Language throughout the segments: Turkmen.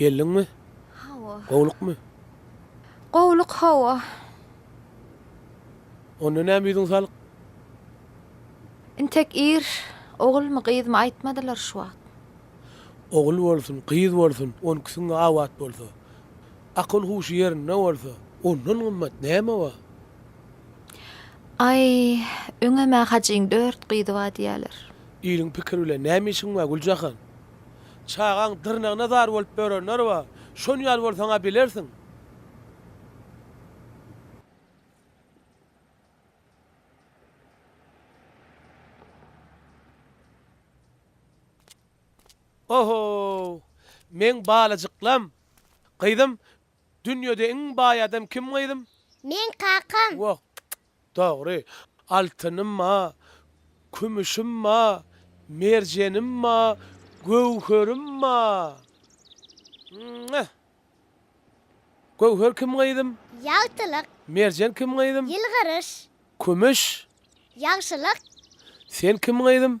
Geldiňmi? Hawa. Gowlukmy? Gowluk, hawa. Onda näme ýüzüň salyk? Intek ir, ogulmy, gyzmy aýtmadylar şu wagt. Ogul bolsun, gyz bolsun, onküsiň abat bolsa. Akyl-huşy ýerinde bolsa, ondan gymmat näme bar? Aý, öňem-ä Hajyň dört gyzy bar diýýäler. Iliň pikiri bilen näme işiň bar, Güljahan? Çagaň dyrnagyna zar bolup ýörenler bar. Şon ýaly bolsaň-a bilersiň. Oho-ow! Meň balajyklam! Gyzym, dünýede iň baý adam kim gyzym? Meň kakam. Wah, dogry. Altynym ma, kümüşim ma, merjenim ma, göwherim ma. Mwah! Göwher kim gyzym? Ýagtylyk. Merjen kim gyzym? Ýylgyryş. Kümüş? Ýagşylyk. Sen kim gyzym?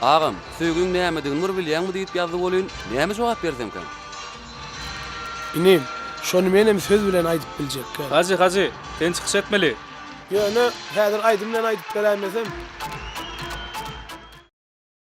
Agam, söýgiň nämedigini bir bilýäňmi diýip ýazdy welin, näme jogap bersemkäm? Inim, şony menem söz bilen aýdyp biljekkä. Hajy, Hajy, sen çykyş etmeli. Ýöne, häzir aýdym bilen aýdyp beräýmesem.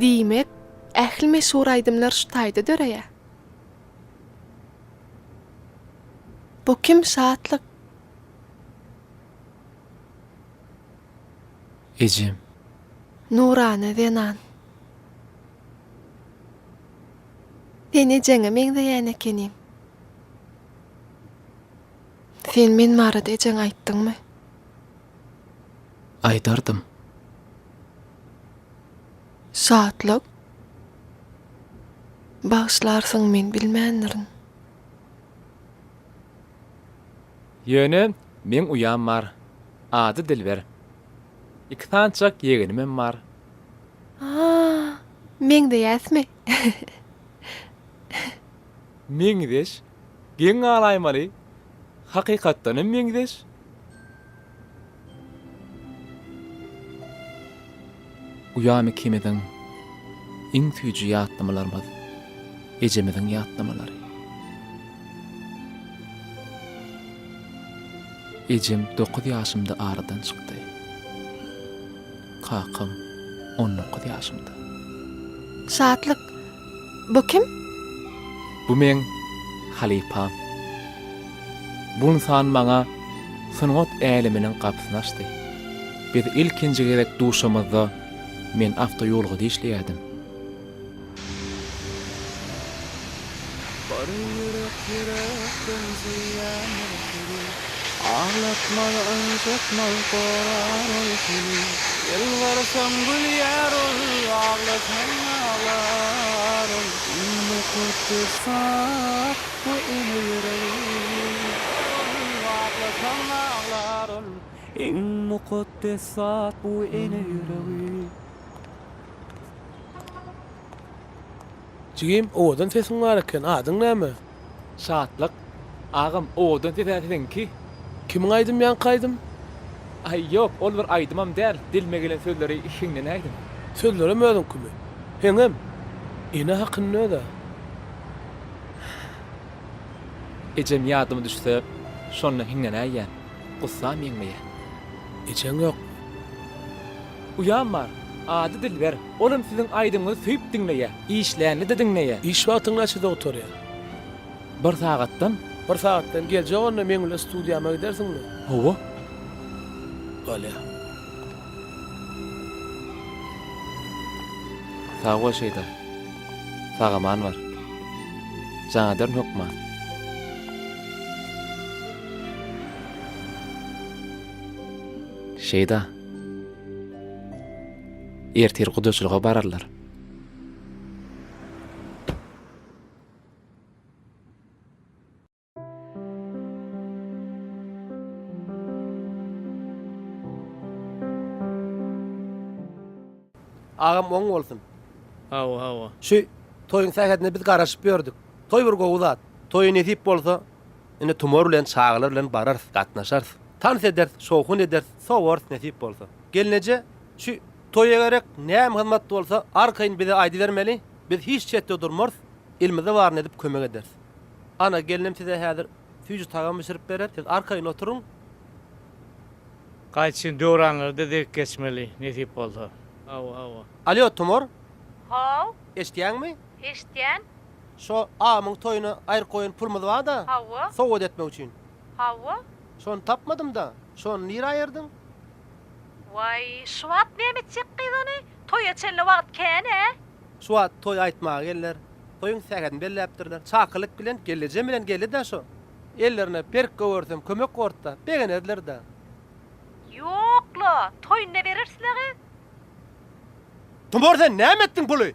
Diýmek, ähli meşhur aýdymlar şu taýda döreýär. Bu kim Şatlyk? Ejem. Nurana zenan. Sen ejeňe meňzeýän ekeniň. Sen men barada ejeňe aýtdyňmy? Aýdardym. Şatlyk. Bagyşlarsyň men bilmändirin. Ýöne meň uýam bar. Ady Dilber. Iki sanjak ýegenimem bar. Aa, meňzeýäsmi? Meňzeş, geň galaýmaly, hakykatdanam meňzeş. Uýam ikimiziň iň süýji ýatlamalarymyz, ejemiziň ýatlamalary. Ejem dokuz ýaşymda aradan çykdy. Kakam on dokuz ýaşymda. Şatlyk, Bu kim? Bu meň halypam. Bu ynsan maňa sungat äleminiň gapysyny açdy. Biz ilkinji gezek duşamyzda men awtoýolgada işleýärdim. Bary ýürek ýürek benzeýän ol seni Aglatmaz ynjytmaz gorar ol seni Ýylgyrsaň gülýär ol aglasaň aglar ol Indi köpdür sap bu ene ýüregi Aglasaň aglar ol Iň mukaddes zat bu ene ýüregi. Jigim owadan sesiň bar eken adyň näme? Şatlyk. Agam owadan ses-ä siziňki. Kimiň aýdym ýaňky aýdym? Aý ýok ol bir aýdymam däl dilime gelen sözleri hiňlenäýdim. Sözlerem özüňkimi? Heňem. Ene hakynda öz-ä. Ejem ýadyma düşse şonda hiňlenäýýän. Gussam ýeňmeýän. Ejeň ýok. Uýam bar. Ady Dilber. Olam siziň aýdymyňyzy söýüp diňleýär. Işlände-de diňleýär. Iş wagtyň näçede gutarýar? Bir sagatdan. Bir sagatdan. Geljek onda meň bilen studiýama gidersiňmi? Hawa. Bolýar. Sag bol Şeýda. Sag-aman bar. Janadern hökman. Şeýda. Ertir gudaçylyga bararlar. Agam oň bolsun. Hawa, hawa. Şu toýuň sähetine biz garaşyp ýördük. Toý bir gowy zat. Toýy nesip bolsa, Indi tumar bilen çagalar bilen bararys, gatnaşarys. Tans ederis, şowhun ederis, sowarys nesip bolsa. Gelneje, şu toýa gerek näme hyzmat bolsa, arkaýyn bize aýdybermeli, biz hiç çetde durmarys, elimize baryny edip kömek ederis. Ana, gelnim size häzir süýji tagam bişirip berer, siz arkaýyn oturyň. Gaýçyn, döwranlarda dek geçmeli, nesip bolsa. Hawa, hawa. Alýo, tumar. Haw. Eşidýäňmi? Eşidýän. Şo agamyň toýuna aýryk goýan pulumyz bar-da. Hawa. Sowgat etmek üçin. Hawa. Şony tapmadym-da. Şony nirä aýyrdyň? Waý, şu wagt näme etjek gyz ony? Toýa çenli wagt kän-ä. Şu wagt toý aýtmaga geldiler. Toýuň sähetini belläpdirler. Çakylyk bilen, gellejem bilen geldi-de şo. Ellerine berk gowersem kömek bort-da, begenerler-dä. Ýok-la, toýunda berers-le gyz. Tumar sen näme etdiň puly?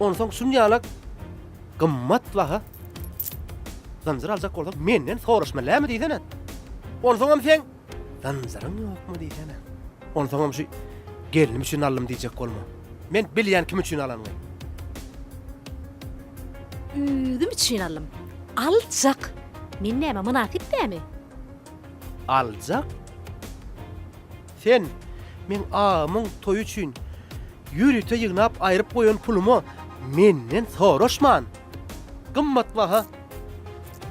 Onsoň şun ýalak gymmat baha zynjyr aljak bolsaň, menden soraşma, näme diýsene. Onsoňam sen zynjyryň ýokmy diýsene. Onsoňam şu gelnim üçin aldym diýjek bolma. Men bilýän kim üçin alanyny. Özüm üçin aldym. Aljak. Men näme mynasyp dämi? Aljak? Sen, meň agamyň toýy üçin ýörite ýygnap aýryp goýan pulumy menden soraşman, gymmatbaha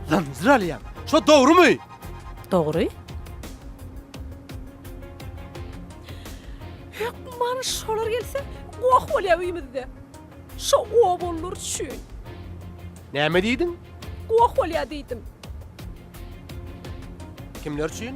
zynjyr alýaň. Şo dogrumy? Dogry. Hökman şolar gelse, goh bolýar öýümizde. Şo obalylar üçin. Näme diýdiň? Goh bolýar diýdim. Kimler üçin?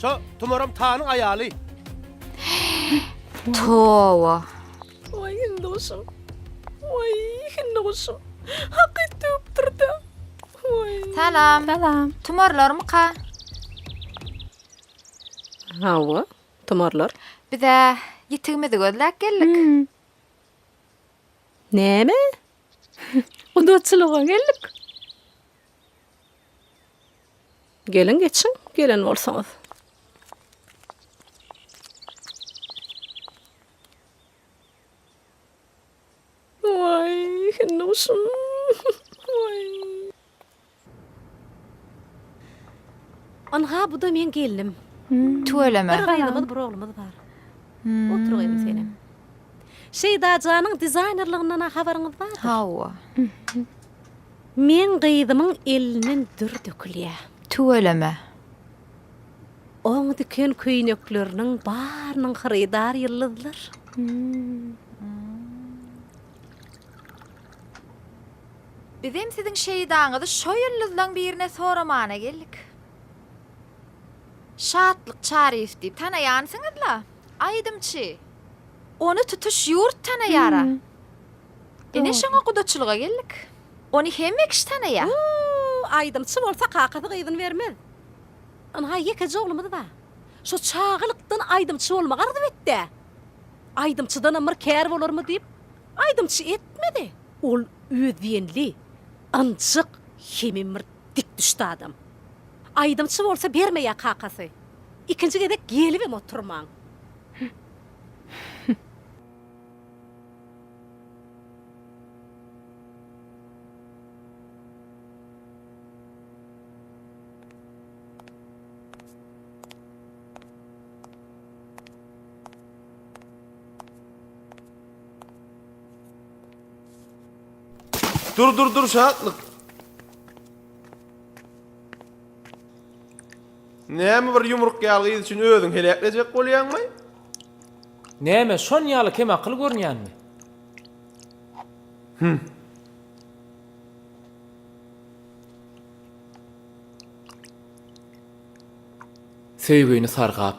Şo tumaram tanyň aýaly. Towa. Oý hindi guşum. Oý hindi guşum. Hakyt töpdürdi. Oý. Salam. Salam. Tumarlarmy ka? Hawa, tumarlar. Bize ýitigimizi gözläp geldik. Hmm. Näme? Gudaçylyga geldik. Geliň geçiň gelen bolsaňyz. Oy, hindi guşum. Oy. Ynha bu da men gelnim. Tüweleme. Bir gyzymyz, bir oglumyz bar. Hmm. Otur gyzym senem. Şeýda janyň dizaýnerliginden habaryňyz bardyr. Hawa. Meň gyzymyň elinden dür dökülýä. Tüweleme. Oň diken köýnekleriniň barynyň hyrydar ýyldyzlar. Bizem siziň şeýdaňyzy şo ýyldyzlaň birine soramana geldik. Şatlyk Çaryýew diýip tanaýansyňyz-la? Aýdymçy. Ony tutuş ýurt tanaýar-a. Ine şoňa gudaçylyga geldik. Ony hemme kişi tanaýa. Uuu aýdymçy bolsa kakasy gyzyny bermez. Ynha ýekeje oglumyz bar. Şo çagalykdan aýdymçy bolmagy arzuw etdi. Aýdymçydanam bir kär bolarmy diýip aýdymçy etmedi. Ol öz diýenli, ynjyk, hemem bir dikdüşdi adam. Aýdymçy bolsa bermeýä kakasy. Ikinji gezek gelibem oturman. Dur dur dur şatlık. Näme bir yumruk ýalgyz üçin özüň heläklejek bolýaňmy? Näme, şon ýaly kemakyl görünýänmi? Hüm. Söýgini sargap,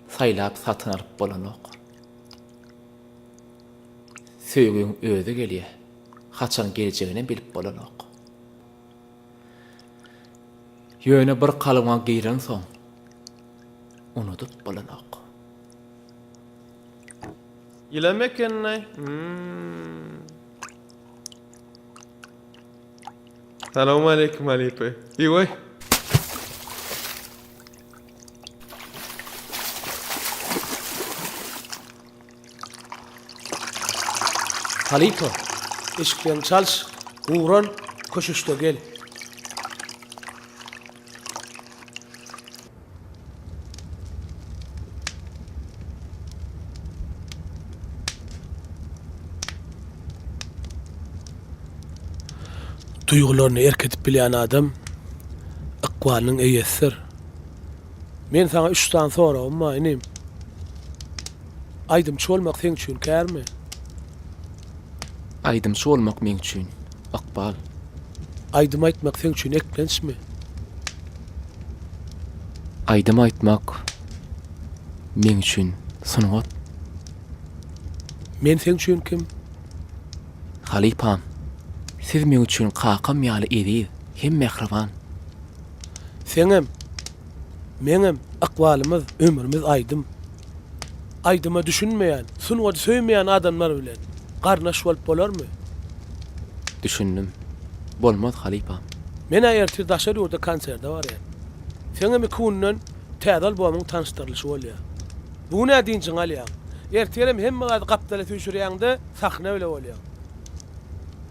saýlap satyn alyp bolanok. Söýgiň özi gelýär, haçan geljeginem bilip bolanok. Ýöne bir kalyňa girensoň, unudyp bolanok. Ýylam ekeni-laý. Salowmaleýkim halypa. Eý-oý. Halypa, eşikleňi çalş, gural, köşeşde gel. Duýgularyny erk edip bilýän adam ykbalynyň eýesidir. Men saňa üç sany soragym bar, inim. Aýdymçy bolmak seň üçin kärmi? Aýdymçy bolmak meň üçin ykbal. Aýdym aýtmak seň üçin eklençmi? Aýdym aýtmak meň üçin sungat. Men seň üçin kim? Halypam. Siz meň üçin kakam ýaly eziz hem mähriban. Seňem, meňem ykbalymyz, ömrümiz aýdym. Aýdyma düşünmeýän, sungady söýmeýän adamlar bilen garnaş bolup bolarmy? Düşündim. Bolmaz halypam. Men-ä ertir daşary ýurda konserde barýan. Seňem iki günden täze albomyň tanyşdyrylyşy bolýa. Bu gün-ä dynjyňy alýaň. Ertirem hemme zady gapdala süýşürýäň-de, sahna bile bolýaň.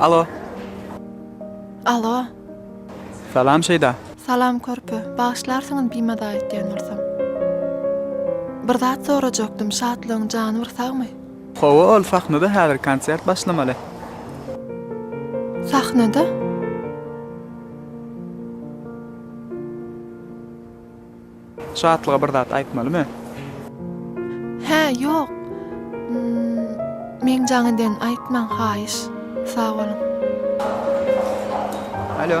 Alo. Alo. Salam Şeýda. Salam körpe. Bagyşlarsyňyz bimada aýtýan bolsam. Bir zat sorajakdym, Şatlygyň jany bir sagmy? Hawa ol sahnada häzir konsert başlamaly. Sahnada? Şatlyga bir zat aýtmalymy? Hä, ýok. Meň jaň eden aýtmaň haýyş. Sag boluň. Alo.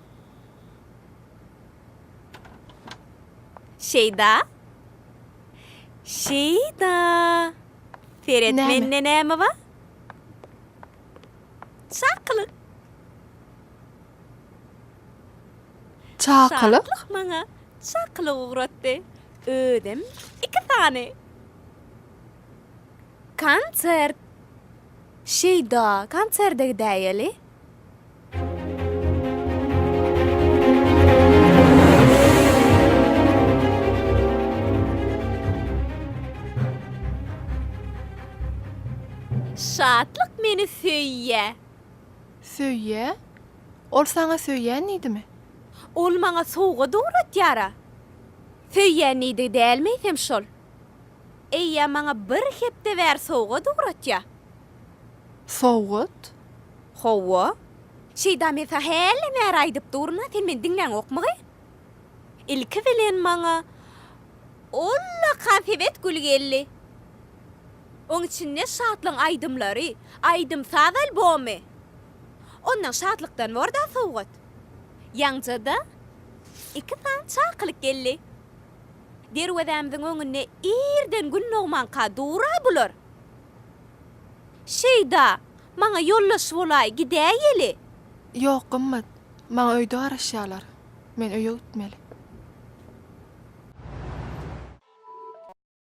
Şeýda! Şeýda! Seret, Näme? mende näme bar? Çakylyk! Çakylyk? Çaklyk maňa çakylyk ugratdy. Özem iki sany. Konsert! Şeýda, konserde gidäýeli. Şatlyk meni söýýä. Söýýä? Ol saňa söýýän diýdimi? Ol maňa sowgat ugratýar-a. Söýýän diýdigi dälmi eýsem şol? Eýýäm maňa bir hepde bäri sowgat ugratýa. Sowgat? Hawa. Şeýda men saňa hälden bäri aýdyp durun-a, sen meni diňläňokmygy? Ilki bilen maňa ullakan sebet güli geldi. Oň içinde Şatlygyň aýdymlary, aýdym-saz albomy. Ondan Şatlykdan bor-da sowgat. Ýaňja-da iki sany çakylyk geldi. Derwezämiziň öňünde irden gün dogmanka dur-a bular. Şeýda, maňa ýoldaş bolaý, gidäýeli. Ýok, gymmat. Maňa öýde garaşýarlar. Men öýe gitmeli.